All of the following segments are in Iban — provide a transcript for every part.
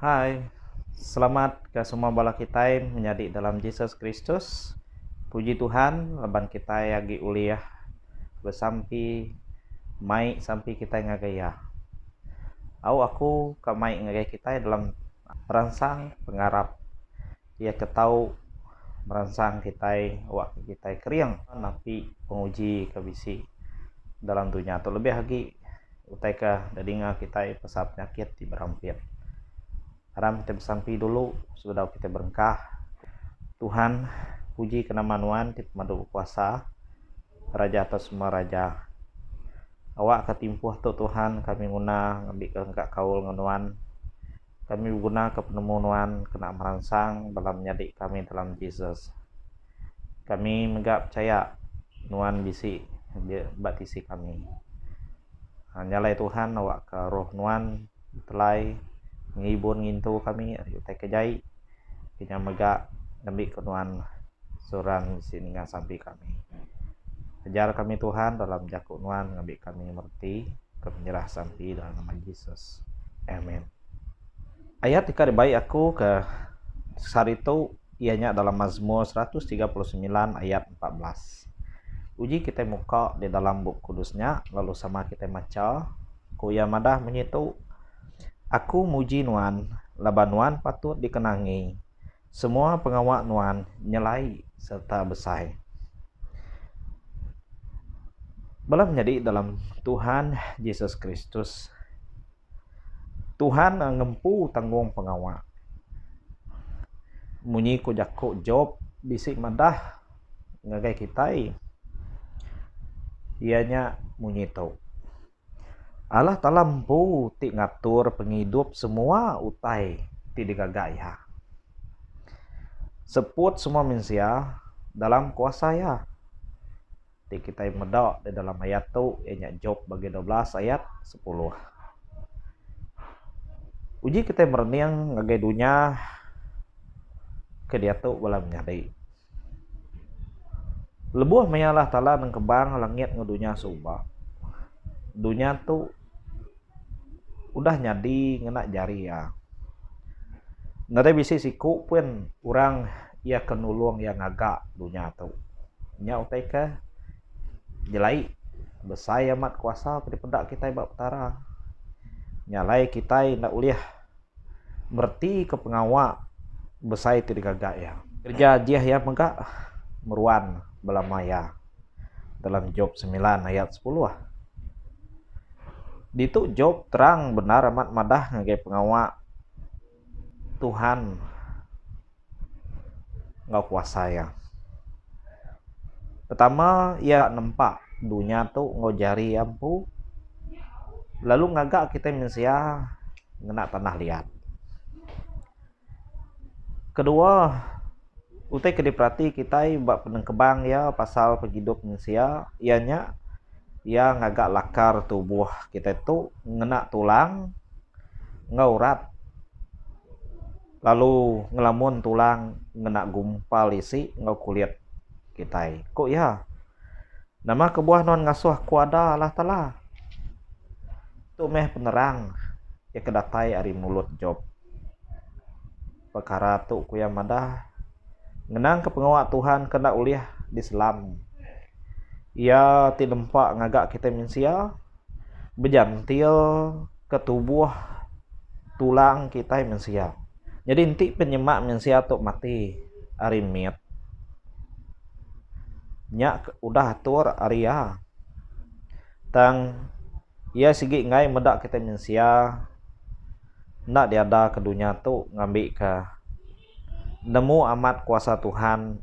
Hai, selamat ke semua bala kitai menyadi dalam Jesus Kristus. Puji Tuhan laban kitai agi ulih besampi mai sampi kitai ngagai Iya. Au aku ka mai ngagai kitai dalam peransang pengarap. Iya ke tau meransang kitai awakka kitai kering napi penguji ke bisi dalam dunya tu lebih agi utai ke didinga kitai pasal penyakit ti berampit. Aram kitai besampi dulu sebedau kitai berengkah. Tuhan, puji ke nama Nuan ti pemadu bekuasa, Raja atas semua raja. Awakka timpuh tu Tuhan kami nguna ngambika engka kaul enggau Nuan. Kami begunaka penemu nuan kena meransang bala menyadi kami dalam Jesus. Kami mega pechaya nuan bisi ba tisi kami. Nyalai Tuhan awakka roh nuan betelai ngibun ngintu kami ari utai ke jai. Kinya mega ngambika nuan seorang bisi ninga sampi kami. Ajar kami Tuhan dalam jaku nuan ngambi kami mereti ke menyerah sampi dalam nama Jesus. Amen. Ayat ika dibai aku ke sehari tu iya nya dalam Mazmur 139 ayat 14. Uji kita muka di dalam bup kudus nya lalu sama kita macha ku iya madah munyi tu Aku muji Nuan laban Nuan patut dikenangi. Semua pengawa Nuan nyelai sereta besai. Bala menyadi dalam Tuhan Jesus Kristus, Tuhan ngempu tanggung pengawa. Munyi ku jaku Job bisi madah ngagai kitai iya nya munyi tu, Allah Taala empu ti ngatur pengidup semua utai ti digaga Iya. Seput semua mensia dalam kuasa Iya. Ti kitai meda di dalam ayat tu iya nya Job bagi dua belas ayat sepuluh. Uji kitai merening ngagai dunya ke diatu bala menyadi. Lebuh maya lah tala nengkebang langit enggau dunya suba, dunya tu udah nyadi ngena jari iya. Nadai bisi siku pun orang iya ke nulung iya ngaga dunya tu. Nya utai ke nyelai besai amat kuasa ke dipeda kitai ba Petara. Nya alai kitai enda ulih. meretika pengawa besai ti digaga iya. Kereja Jeh iya mega meruan belama iya dalam Job semilan ayat sepuluh. Ditu Job terang bendar amat madah ngagai pengawa Tuhan. enggau kuasa iya. Pertama iya nempa dunya tu enggau jari iya empu lalu ngaga kitai mensia ngena tanah liat. Kedua utai ke diperati kitai ba penengkebang iya pasal pengidup mensia iya nya iya ngaga lakar tubuh kitai tu ngena tulang enggau urat. Lalu ngelamun tulang ngena gumpal isi enggau kulit kitai, ku iya. Nama kebuah nuan ngasuh kuada Allah Taala? Tu meh penerang iya ke datai ari mulut Jop. Pekara tu ku iya madah ngenangka pengawa Tuhan ke enda ulih diselam. Iya ti nempa ngaga kitai mensia bejantil. ke tubuh tulang kitai mensia nyadi enti pun nyema mensia tu mati ari mit nya udah atur ari iya tang iya sigi enggai meda kitai mensia enda diada ke dunya tu ngambi ka Nemu amat kuasa Tuhan.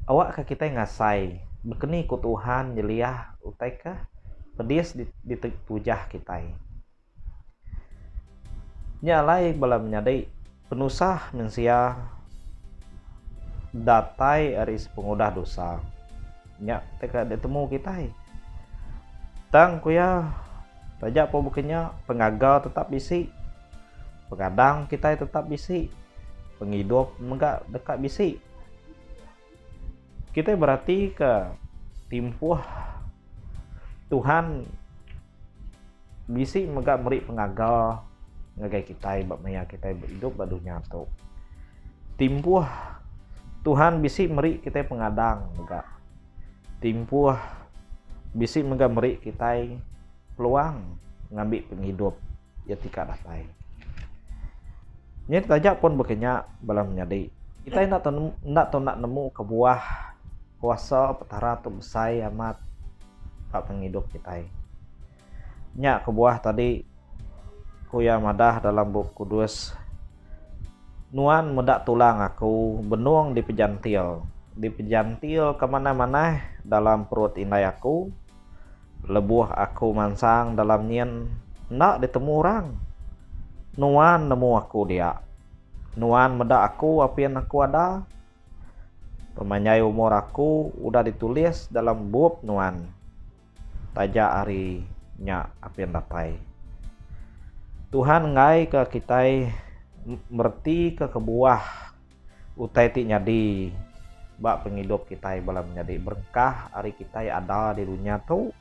Awakka kitai ngasai bekeni ku Tuhan nyeliah utai ke pedis ditujah kitai. Nya alai bala menyadi penusah mensia datai ari sepengudah dosa. Nya tauka ditemu kitai. Tang ku iya, taja pun baka nya, pengaga tetap bisi. Pengadang kitai tetap bisi. Pengidup mega deka bisi. Kitai beratika timpuh Tuhan bisi mega meri pengaga ngagai kitai ba maya kitai beidup ba dunya tu. Timpuh Tuhan bisi meri kitai pengadang mega. Timpuh bisi mega meri kitai peluang ngambi pengidup iya ti ka datai. Nya taja pun baka nya bala menyadi kitai enda tau enda tau enda nemu kebuah kuasa petara tu besai amat ka tang idup kitai. Nya kebuah tadi ku iya madah dalam bup kudus Nuan meda tulang aku benung dipejantil dipejantil ke manah manah dalam perut indai aku lebuh aku mansang dalam nyin enda ditemu orang nuan nemu aku dia nuan meda aku apin aku ada pemanjai umur aku udah ditulis dalam bup nuan. Taja ari nya apin datai. Tuhan enggaika kitai meretika kebuah utai ti nyadi ba pengidup kitai bala menyadi berkah ari kitai ada di dunya tu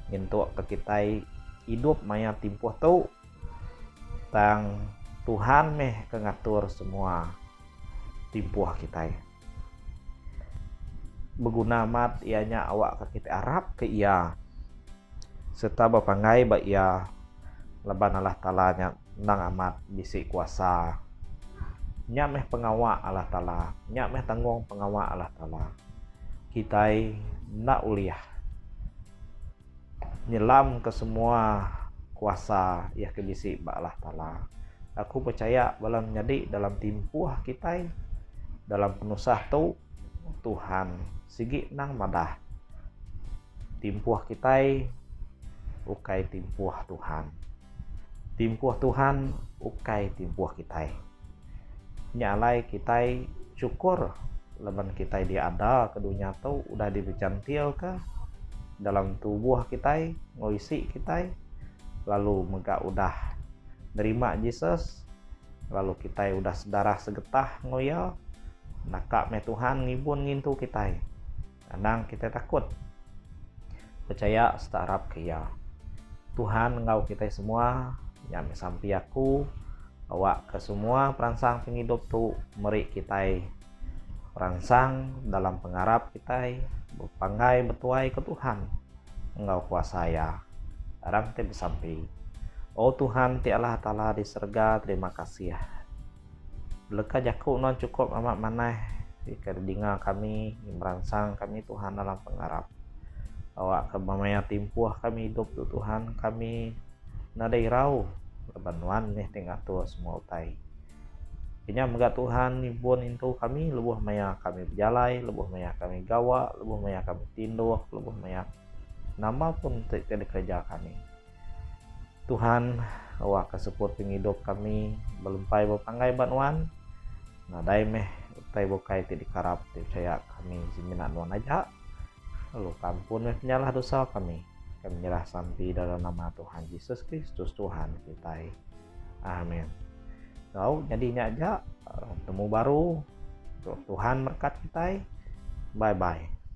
nyentukka kitai idup maya timpuh tu tang Tuhan meh ke ngatur semua timpuh kitai. beguna amat iya nya awakka kitai arapka iya sereta bepanggai ba iya laban Allah Taala nya endang amat bisi kuasa. Nya meh pengawa Allah Taala, nya meh tanggung pengawa Allah Taala. Kitai enda ulih. Nyelamka semua kuasa iya ke bisi ba Allah Taala. Aku pechaya bala ne nyadi dalam timpuh kitai dalam penusah tu Tuhan sigi nang madah. Timpuh kitai ukai timpuh Tuhan. Timpuh Tuhan ukai timpuh kitai. Nya alai kitai chukur laban kitai diada ke dunya tu udah dibejantilka dalam tubuh kitai enggau isi kitai lalu mega udah nerima Jesus lalu kitai udah sedarah segetah enggau iya naka meh Tuhan ngibun ngintu kitai. Anang kitai takut. Pechaya serta arap ke Iya. Tuhan enggau kitai semua, nya meh sampi aku awakka semua peransang pengidup tu meri kitai peransang dalam pengarap kitai bepanggai betuai ke Tuhan enggau kuasa Iya. Arang kitai besampi, O Tuhan ti Allah Taala di serega, terima kasih. Beleka jaku nuan chukup amat manah deka didinga kami, meransang kami Tuhan dalam pengarap. Bawaka bemaya timpuh kami idup tu Tuhan, kami nadai irau laban nuan mih ti ngatur semua utai. Kenyah mega Tuhan nyebun intu kami lebuh maya kami bejalai, lebuh maya kami gawa, lebuh maya kami tinduk, lebuh maya nama pun ti dikereja kami. Tuhan awak ka seput pengidup kami belempai bepanggai ba Nuan. Nadai meh utai bukai ti dikarap dipechaya kami semina Nuan aja, lalu ka ampun meh penyalah dosa kami. Kami nyerah sampi dalam nama Tuhan Jesus Kristus Tuhan kitai. Amen. Tau nyadi nya aja temu baru. Tuhan berkat kitai. Bye bye.